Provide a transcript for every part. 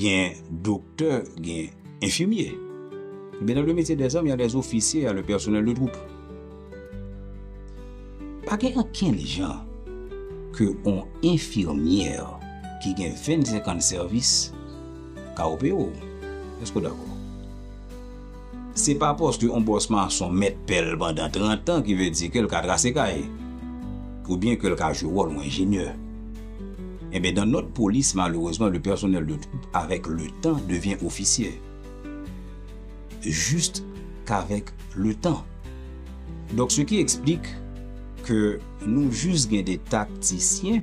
Gen doktè, gen enfimye. Ebyen nan le metye dè zam, ya dè zofisye, ya le pèsonèl de twoup. Pa gen okenn jan ke on enfimyè ki gen 25 an de sèvis ka opere w. Èske w dakò? Se pa paske yon bòs mason mèt pè l pandan 30 an ki vle di ke l ka trase kay, oubyen ke l ka jwe wòl yon enjenyè. Enben, dans notre police, malheureusement, le personnel de troupe avec le temps devient officier. Juste qu'avec le temps. Donc, ce qui explique que nou jus gen de tacticiens.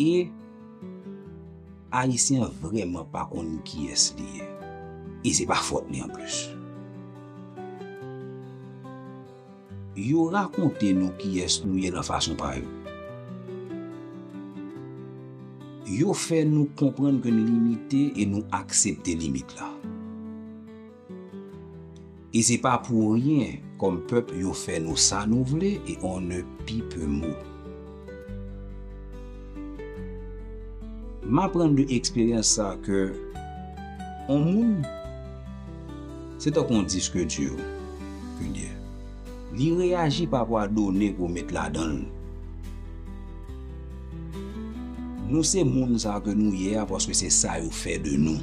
E Ayisyen vrèman pa konn kiyès li ye. E se pa fòt li an plis. Yo rakonte nou kiyès nou ye lan fason pa yo. Yo fè nou konprann ke n limite e nou aksepte limit la. E se pa pou ryen kom pep yo fe nou sa nou vle e on ne pi pe mou. M aprann de eksperyans sa ke on moun se tankou on disk di kounyea li reyaji pa rapò a done ke w met ladan l. Nou se moun sa ke nou ye a paske se sa yo fe de nou.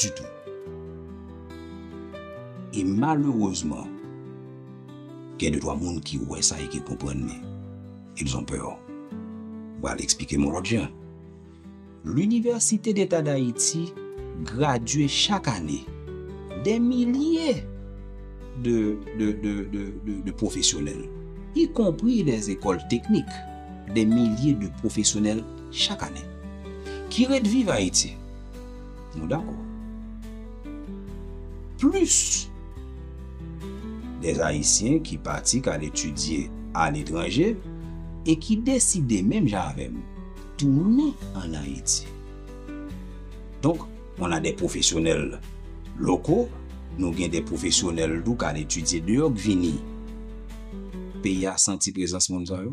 ditou. E malerezman, gen de twa moun ki wè sa e ki konprann men, ils ont peur. M pral eksplike m yon lòt jan. L'Université d'Etat d'Haïti gradye chak ane dè milye de pwofesyonèl, ikonpri lè zekòl teknik, dè milye de pwofesyonèl, chak ane. Ki ret viv Ayiti. Nou dakò. Plis dè Ayisyen ki pati k al etidye aletranje e ki deside menm jan avè m tounen ann Ayiti. Donk, on a dè pwofesyonèl loko, nou gen dè pwofesyonèl tou k al etidye deyò k vini. Peyi a santi prezans moun sa yo.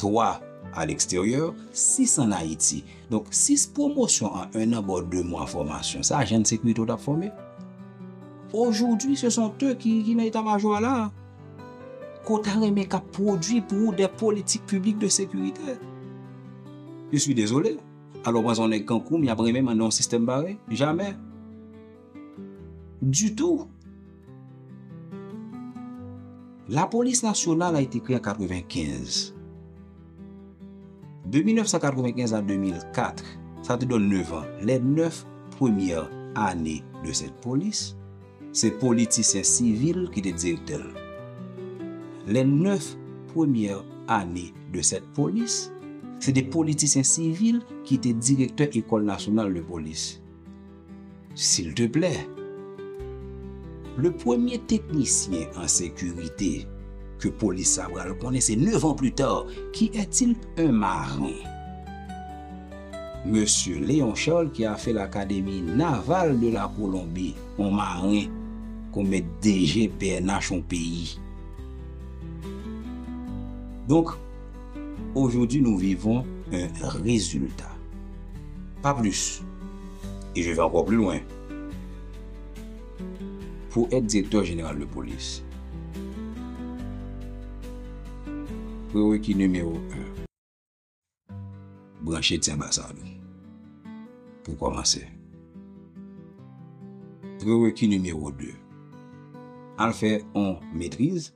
3 a leksteryè, 6 an Ayiti. Donk, 6 pwomosyon an 1 an ba w 2 mwa fòmasyon. Sa ajan de sekirite w t ap fòme? Ojoudwi, se son teu ki nan eta majò a la a. Ke w ta renmen k ap pwodui pou ou dè politik piblik de sekirite. Je suis désolé. Alò w panse yon nèg kankou m y ap renmen mande yon sistèm parèy? Jamè! Ditou. La polis nasyonal a ete kreye an 95. De 1995 a 2004, sa te donn 9 an. Le 9 premye ane de sèt polis, se politisyen sivil ki te direktè l. Le 9 premye ane de sèt polis, se te politisyen sivil ki te direktè ekòl nasyonal de polis. Silteplè, le premye teknisyen an sekirite ke polis sa pral konnen se 9 ans plus tard, ki est-il? Un marin. Mesye Léon Charles ki a fè l'Académie Navale de la Colombie, on marin pou met DG pnh on peyi. Donk. Aujourd'hui nous vivons un résultat, pas plus, et je vais encore plus loin. Pou èt direktè jeneral de polis, preweki nimewo 1, branche ti anbasad ou pou kòmanse. Preweki nimewo 2, al fè yon metriz.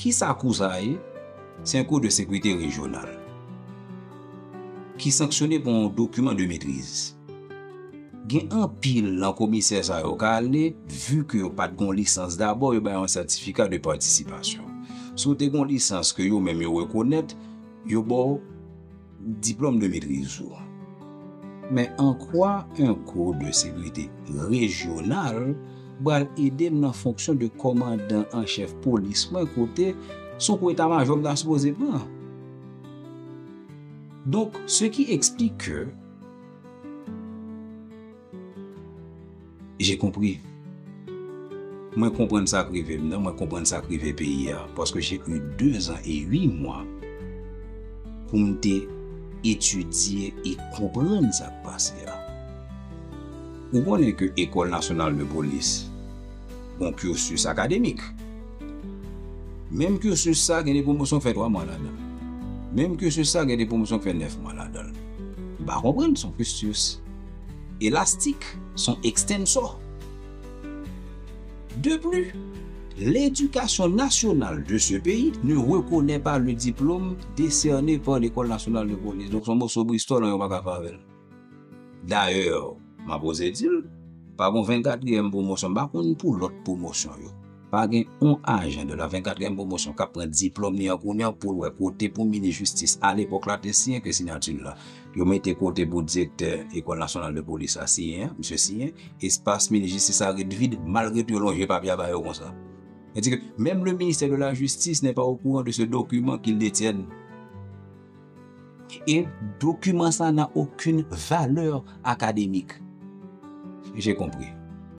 Kisa kou sa a ye? Se yon kou de sekurite rejyonal ki sanksyone pou yon dokiman de metriz. Gen anpil nan komisè sa yo ka ale, vu ke yo pat gen yon lisans dabò yo ba yo yon sètifika de patisipasyon. Si w te gen yon lisans ke yo menm yo rekonèt, yo ba w. Diplome de maitrise ou. Men ankwa 1 kou de sekirite rejyonal bral ede m nan fonksyon de kòmandan an chèf polis mwen kote son kou eta majò m ta sipoze pran. Donk se ki eksplik ke. J'ai compris. Mwen konprann sa k rive m nan, mwen konprann sa k rive peyi a. Paske j'ai eu 2 ans et 8 mois pou m te etidye e konprann sa k pase a. Ou konnen ke Ecole Nationale de Police gon cursus akademik. Menm cursus sa gen de pwomosyon k fè 3 mwa ladan l. Menm cursus sa gen de pwomosyon k fè 9 mwa ladan l. M pa konprann son cursus. Elastik s on ekstensò. De pli, ledikasyon nasyonal de se peyi ne rekonè pa le diplome desène pa Lekòl Nasyonal de Polis. Donk s on moso bristòl an yo pa ka fè avè l. Dayè, m ap oze di l, pa gen yon venkatriyèm pwomosyon, m pa konn pou lòt pwomosyon yo. Pa gen on ajan de la 24 kèm pwomosyon kap pran diplòm li an kounye an poul wè kote pou minis jistis alepòk la te siyen ke siyati l la yo mete kote pou direktè ekòl nasyonal de polis la siyen an misye siyen espas minis jistis la ret vid malgre tou yo lonje papye a ba yo konsa se di ke menm le ministè de la jistis nè pa o kouran de se dokiman ki l detyèn e dokiman sa nan okin valè akademik je konpri.